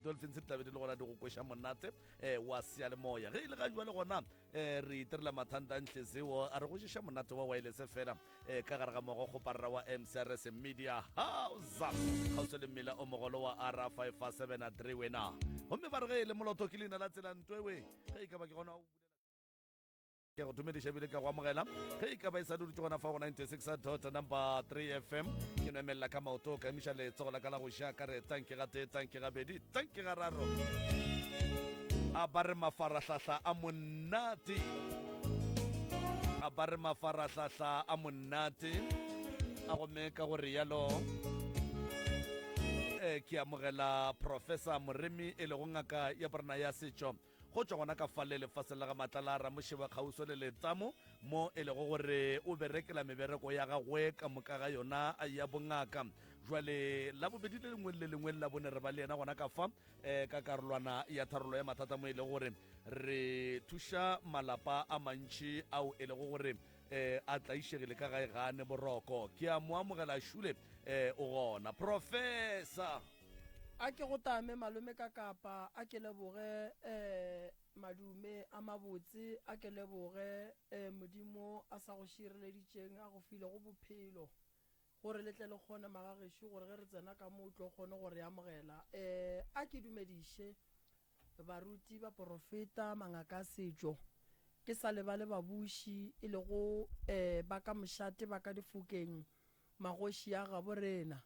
Dolphins di tlabe di le gona di go kweša monate um wa seyalemoya ge e le ga jwa le gona um re itirela mathanta ntle seo a re go šeša monate wa waelese fela um ka gare ga mogo kgoparra wa mcrs media house kgauswa le mmila o mogolo wa r 573 wena gomme ba re ge e le moloto ke leina la tsela ntoewe ge e ka ba ke gona Ke a go dumediša ebile ke a go amogela ge e ka ba e sa duditse gona fa go 96 dot number 3 fm ke no emelela ka maoto ka emiša letsogo la ka la go ja ka re tanke ga tee tanke ga bedi tanke ga raro a ba re mafarahlahla a monate a ba re mafarahlahla a monate a gomme ka go rialo e ke amogela professor moremi e lego ngaka ya borena ya setšo Go tšwa gona ka fale lefaseng la ga Matlala, Ramošeba Kgauswa le Letamo, mo e lego gore o berekela mebereko ya gagwe ka moka ga yona ya bongaka. Jwale la bobedi le lengwe le le lengwe la bone re ba le yena gona ka fa eh, ka karolwana ya tharollo ya mathata mo e lego gore re thuša malapa a mantši ao e lego gore eh, a tlaišegile ka gae gane boroko ke a mo amogela šule eh, o gona professor A ke go tame malome ka kapa a ke leboge eh, madume a mabotse a ke leboge eh, modimo a sa go šireleditšeng a go file go bophelo gore le tle le kgone magagešo gore ge re tsena ka mo o tlo kgone go re amogela eh, a ke dumediše baruti ba porofeta mangaka a setšo ke sa lebale babuši e lego eh, ba ka mošate ba ka difokeng magoši a gabo rena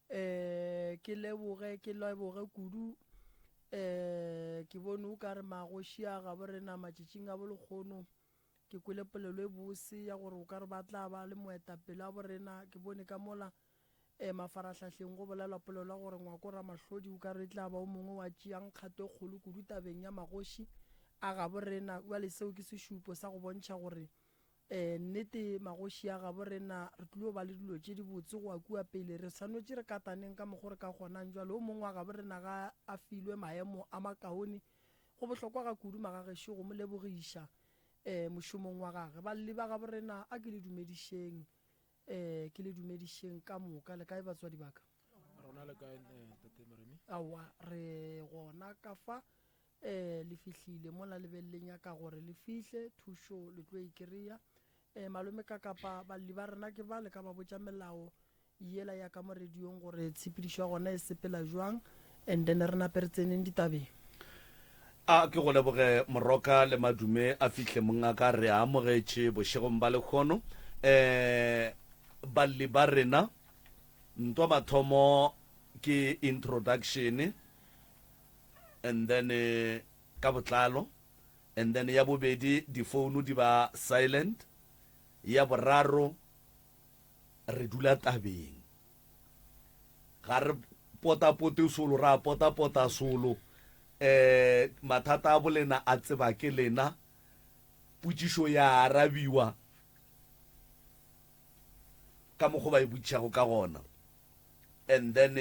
Ee, ke leboge, ke leboge kudu. Ee, ke bone o ka re magoši a gabo rena matšatšing a bolekgono. Ke kwele polelo e bose ya gore o ka re ba tla ba le moetapele a borena. Ke bone ka mola um mafarahlahleng go bolelwa polelo ya gore ngwako Ramahlodi o ka re e tla ba o mongwe wa tšeang kgato e kgolo kudu tabeng ya magoši a gabo rena. Bjale seo ke sešupo sa go bontšha gore Ee, nnete, magoši a gabo rena, re tlilo ba le dilo tše dibotse go wa kua pele. Re swanetše re kataneng ka mokgo re ka kgonang. Jwale, o mongwe wa gabo rena ga a filwe maemo a makaone, go bohlokwa ga kudu magagešo go mo lebogiša, ee, mošomong wa gage. Balli ba gabo rena, a ke le dumedišeng. Ee, ke le dumedišeng ka moka. Le kae batswadi ba ka? Rona le kae Ntate Maremi? Aowa, re gona ka fa. Ee, le fihlile mola le be le nyaka gore le fihle. Thušo le tlo e kry-a. Ee, malome ka kapa balli ba rena ke ba, le ka ba botša melao yela ya ka mo radiong gore tshepedišo ya gona e sepela bjang. And then re nape re tseneng ditabeng. A ke go leboge Moroka le Madume a fihle mongaka re a amogetše bošegong ba lekgono um balli ba rena ntwa mathomo ke introduction and then ka botlalo and then ya bobedi difounu di ba silent ya boraro re dula tabeng ga re potapote solo ra potapota solo um mathata a bolena a tseba ke lena potšišo ya arabiwa ka mokgo ba e botšišago ka gona and then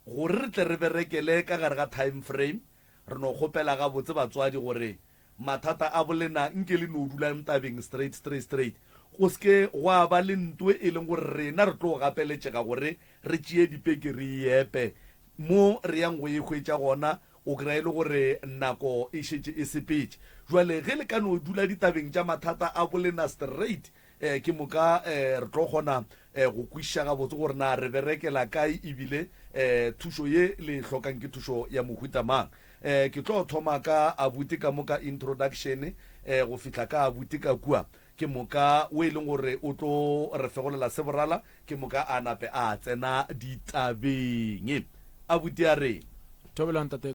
Gore re tle re berekele ka gare ga time frame, re no kgopela gabotse batswadi gore mathata a bolena nke le no dulang tabeng straight straight straight, go se ke gwa ba le ntoe e leng gore rena re tlo gapeletšega gore re tšee dipeke re e epe. Mo re yang go e hwetša gona o kry-a e le gore nako e šetše e sepetše. Jwale ge le ka no dula ditabeng tša mathata a bolena straight, Ee, ke moka ee, re tlo kgona ee, go kwišiša gabotse gore na re berekela kae ebile ee, thušo ye le e hlokang ke thušo ya mohuta mang. Ee, ke tlo thoma ka abuti ka mo ka introduction ee, go fihla ka abuti ka kua, ke moka o e leng gore o tlo re fegolela se borala, ke moka a nape a tsena ditabeng. Abuti a reng? Thobela ntate.